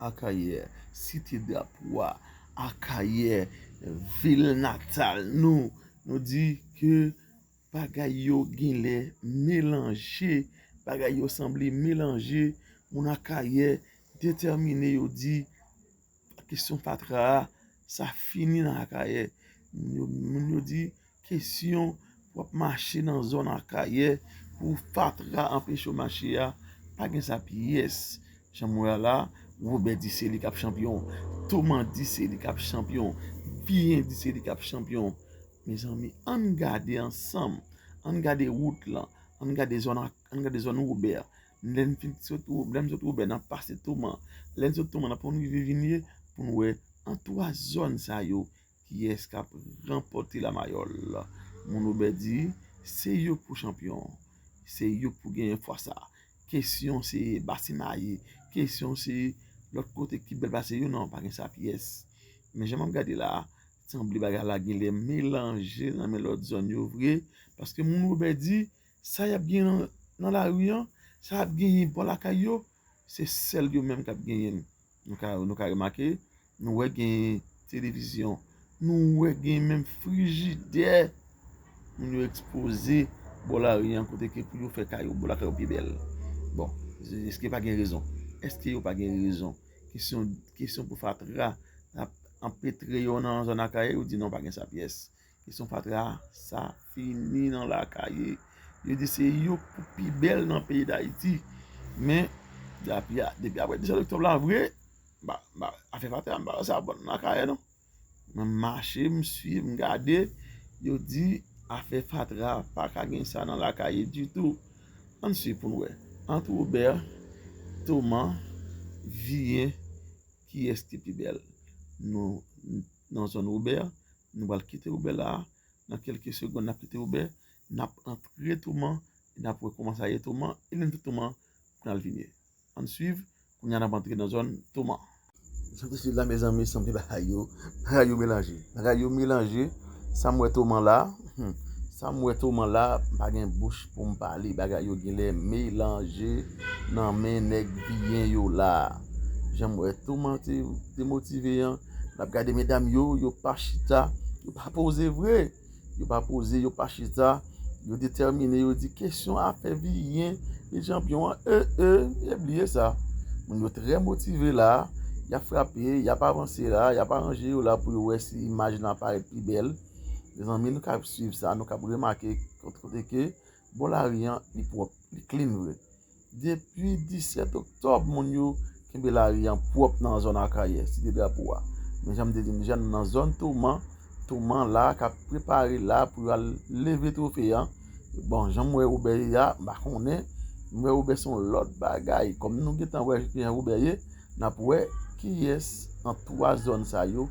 Akayè, site drapo a, Akayè, vil natal nou, nou di ke bagay yo genlè melanje, bagay yo sanble melanje, moun Akayè detèmine yo di, kesyon fatra a, sa fini nan Akayè, moun yo di. Kesyon, W ap mache nan zòn Akayè pou fatra anpeche w mache a, pa gen sa pyès. Jan m wè a la, Wobè di se li k ap chanpyon. Toman di se li k ap chanpyon. Viyen di se li k ap chanpyon. Mezanmi, an n gade ansanm, an n gade wout lan, an n gade zòn ak, an n gade zòn Wobè. Lè n fin sot Wo, lè n sot Wobè, n ap pase Toman. Lè n sot Toman, n ap pran rive Vinye pou n wè an twa zòn sa yo Kiyès kap ranpòte la mayòl? Moun Robert di se yo pou chanpyon se yo k pou genyen fwa sa kesyon se Bastien Maillet kesyon se lòt kote ki bèl pase yo nan pa gen sa pyès men jan map gade la sanble bagay la genlè melanje nan men lòt zòn yo vre paske moun Robert di sa yap gen nan lari an sa yap genyen bò lakay yo se sèl yo menm kap genyen l Nou ka nou ka remake, nou wè gen televizyon, nou wè gen menm frijidè moun yo ekspoze bò lari an kote ke pou yo fè kay yo pou lakay yo pi bèl. Bon, eske pa gen rezon? Eske yo pa gen rezon? Kesyon, kesyon pou fatra ap anpetre yo nan zòn Akayè, yo di non pa gen sa pyès. Kesyon fatra sa fini nan lakaye. Yo di se yo ki pi bèl nan peyi Dayiti. Men, depi apre 17 oktòb la vre, afè fatra m pa wè sa bon nan lakaye non. Mwen mache, m swiv, m gade, yo di afè fatra pa ka gen sa nan lakaye ditou. Ann swiv pou n wè. Ant Robert, Thomas, Viye, kiyès ki pi bèl? nan zòn Wobè. Nou pral kite Wobè la a. Nan kèlke segonn n ap kite Wobè. N ap antre Touman e n ap wè kouman sa ye Touman e menm tou Touman pral vin ye. Ann suiv, kounye a n ap antre nan zòn Touman. Sot isit la mezanmi sanble bagay yo, bagay yo melanje. Bagay yo melanje. Sa m wè Touman la a, sa m wè Touman la a, m pa gen bouch. pou m pale bagay yo ginlè melanje nan men nèg biyen yo la janm wè toman te demotive an nap gade medam yo yo pa chita yo pa poze vre yo pa poze yo pa chita yo detèmine yo di kesyon afè biyen e janpyon an e e e bliye sa moun yo trè motive la yap frape yap avanse la yap aranje yo la pou yo wè si imaj nan parèt pi bèl. Mezanmi nou kab swiv sa, nou kab remake kote ke bò lari an li pwòp, li klin vre. Depi 17 oktòb moun yo kenbe lari an pwòp nan zòn Akayè, Site Drapo a. Men jan m te di nou deja nou nan zòn Toman, Toman la kab prepare la pou yo al leve twofe an. Bon, jan m wè Wobè ye a, m pa konnen, m wè Wobè se yon lòt bagay. Kòm nou gen tan wè jan Wobè ye. N ap wè kiyès ant twa zòn sa yo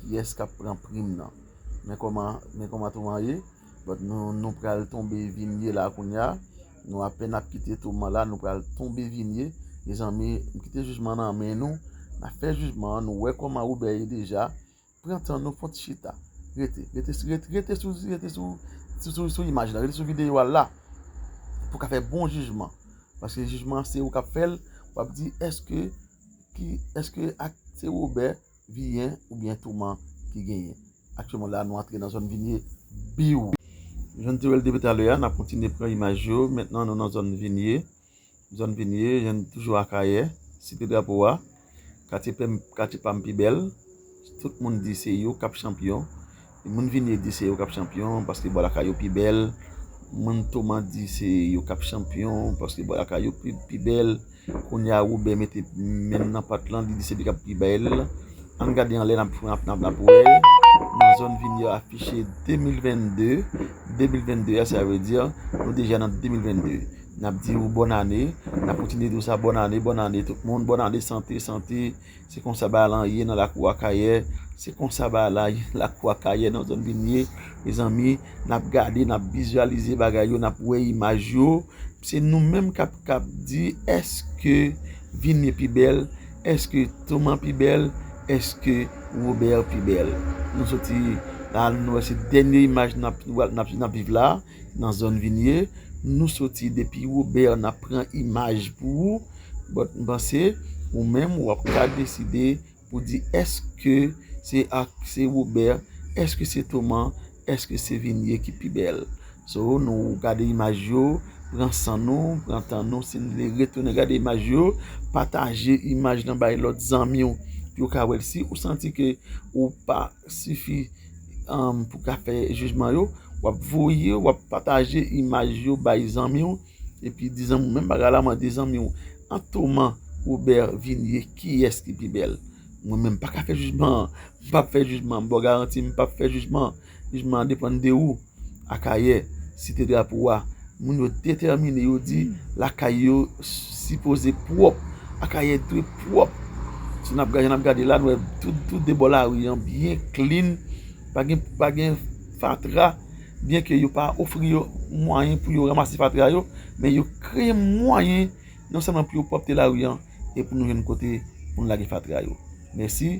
kiyès k ap pran prim nan. Men kòman men kòman Thoman ye. But nou nou pral tonbe vin ye la kounya. Nou apèn ap kite Thoman la nou pral tonbe vin ye. Mezanmi m kite jijman nan men nou. N ap fè jijman an nou wè kòman Robert ye deja. Pran tan nou fon ti chita. Rete, rete, rete, rete sou, rete sou, sou, sou imaj la, rete sou videyo a la pou w ka fè bon jijman. Paske jijman an se ou k ap fè l, w ap di èske ki, èske ak se woubè, viyen oubyen touman ki genyen. Aktyèlman la a nou antre nan zòn vinye biw. Jan n te wè l depi talè a, n ap kontinye pran imaj yo. Mentnan nou nan zòn vinye. zòn vin ye, jan n toujou Akayè, Site Drapo a, katye pèm, katye pam pi bèl, tout moun di se yo k ap chanpyon, moun vin ye di se yo k ap chanpyon paske bò lakay yo pi bèl, moun Toman di se yo k ap chanpyon paske bò lakay yo pi bèl, kounye a Woben mete men l nan pat lan, li di se li k ap pi bèl, ann gade anlè n ap wè nan zòn vin ye afiche 2022, 2022 a sa vle di nou deja nan 2022. Nap di ou bòn ane, nap kontinye di ou sa bòn ane, bòn ane tout moun, bòn ane sante, sante, se konsa bagay lan ye nan lakou akayè, se konsa bagay la ye nan lakou akayè nan zòn binye, mezanmi nap gade nap vizyalize bagay yo nap wè imaj yo, se nou menm kap kab di eske binye pi bèl, eske toman pi bèl, eske wobè pi bèl, nou soti la nou wè se dènye imaj nap viv la. Nan zòn vinye nou soti depi Robert nap pran imaj pou ou but m panse ou menm wap ka deside pou di eske se ak se Robert eske se Thoman eske se Vinie ki pi bèl so nou gade imaj yo pran san nou pran tan nou si n vle retounen gade imaj yo pataje imaj nan bay lòt zanmi w pou yo ka wèl si ou santi ke ou pa. sifi pou ka fè jijman yo wap voye wap pataje imaj yo bay zanmiw epi di zanmiw menm bagay la mande zanmiw antoman Robert vinie kiyès ki pi bèl mwen menm paka fè jijman mpap fè jijman bò garanti mpap fè jijman jijman an depann de ou. Akayè, Site Drapo a, moun yo detèmine, yo di lakay yo sipoze pwòp. Akayè dwe pwòp. Jan n ap gade la, nou wè tou de bò lari an byen klin, pa gen fatra. Byenke yo pa ofri yo mwayen pou yo ranmase fatra yo, men yo kreye mwayen non sèlman pou yo pwòpte lari an, e pou nou jwenn kote pou nou lage fatra yo. Mèsi.